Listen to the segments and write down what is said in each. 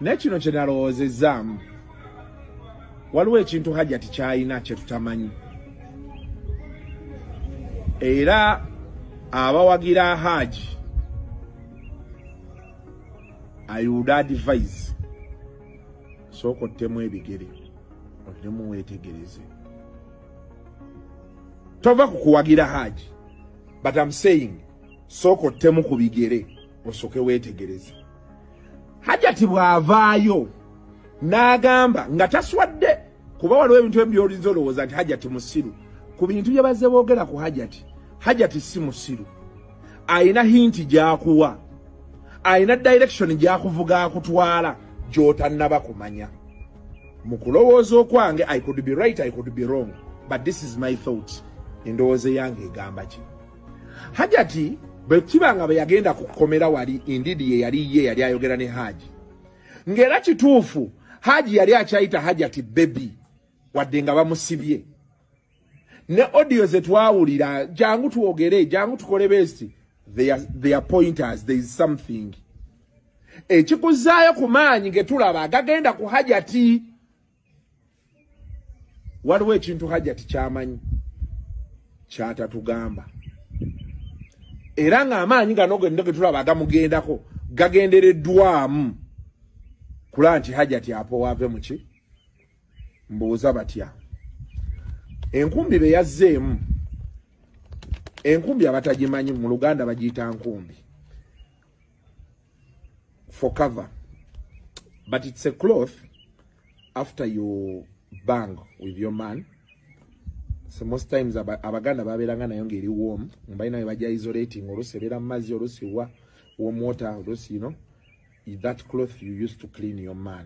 Naye kino kye nalowoozezaamu, waliwo ekintu Hajati kyalina kye tutamanyi, era abawagira Haji I would advise sooka ottemu ebigere oddemu weetegereze, tova ku kuwagira Haji but I'm saying sooka ottemu ku bigere osooke weetegereze. hajati bw'avaayo n'agamba nga taswadde kuba waliwo ebintu ebi byolinza olowooza nti hajati musiru ku bintu bye bazze boogera ku hajati hajati si musiru alina hinti gy'akuwa alina direction gy'akuvuga akutwala gy'otannaba kumanya mu kulowooza okwange i could be right i could be wrong but this is my thought endowooza eyange egamba ki hajati bwe kiba nga bwe yagenda ku kkomera wali indeed ye yali ye yali ayogera ne haji ng'era kituufu haji yali akyayita hajati bebi wadde nga bamusibye ne audio ze twawulira jangu twogere jangu tukole besti their pointers there is something ekikuzaayo ku maanyi getulaba gagenda ku hajati waliwo ekintu hajati kyamanyi kyatatugamba era ng'amaanyi gano genda getulaba agamugendako gagendereddwamu kula nti hajati apowaave muki mbuuza batya enkumbi be yazzeemu enkumbi abatagimanyi mu luganda bagiyita nkumbi for cover but it's a cloth after you bang with your man so most times abaganda babeeranga nayo ngaeri warm mbalina webaja isolating olusi ebeera mumazzi olusi wa warm water olusi you know that cloth you used to clean your man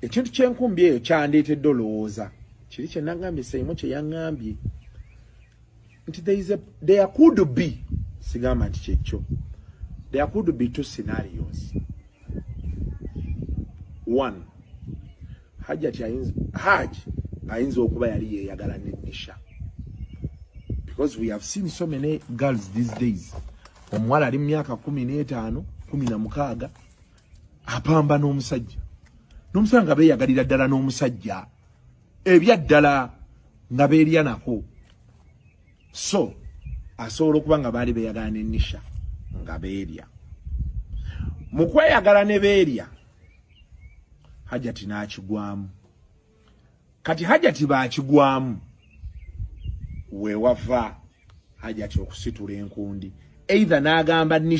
ekintu kyenkumbi eyo kyandeetedde olowooza kiri kyenagambye seimu kyeyaŋambye nti there could be sigamba nti kyekyo there could be two scenarios one hajati ayinza haj ayinza okuba yali yeyagala ne nisha because we have seen so many girls these days omuwala ali mu myaka kumi n'etaano kumi na mukaaga apamba n'omusajja n'omusajja nga beeyagalira ddala n'omusajja ebyaddala nga beerya nako so asobola okuba nga baali beeyagala ne nisha nga beerya mu kweyagala ne beerya hajati n'akigwamu kati hajati baakigwamu weewava hajati okusitula enkundi eitha n'agamba nisha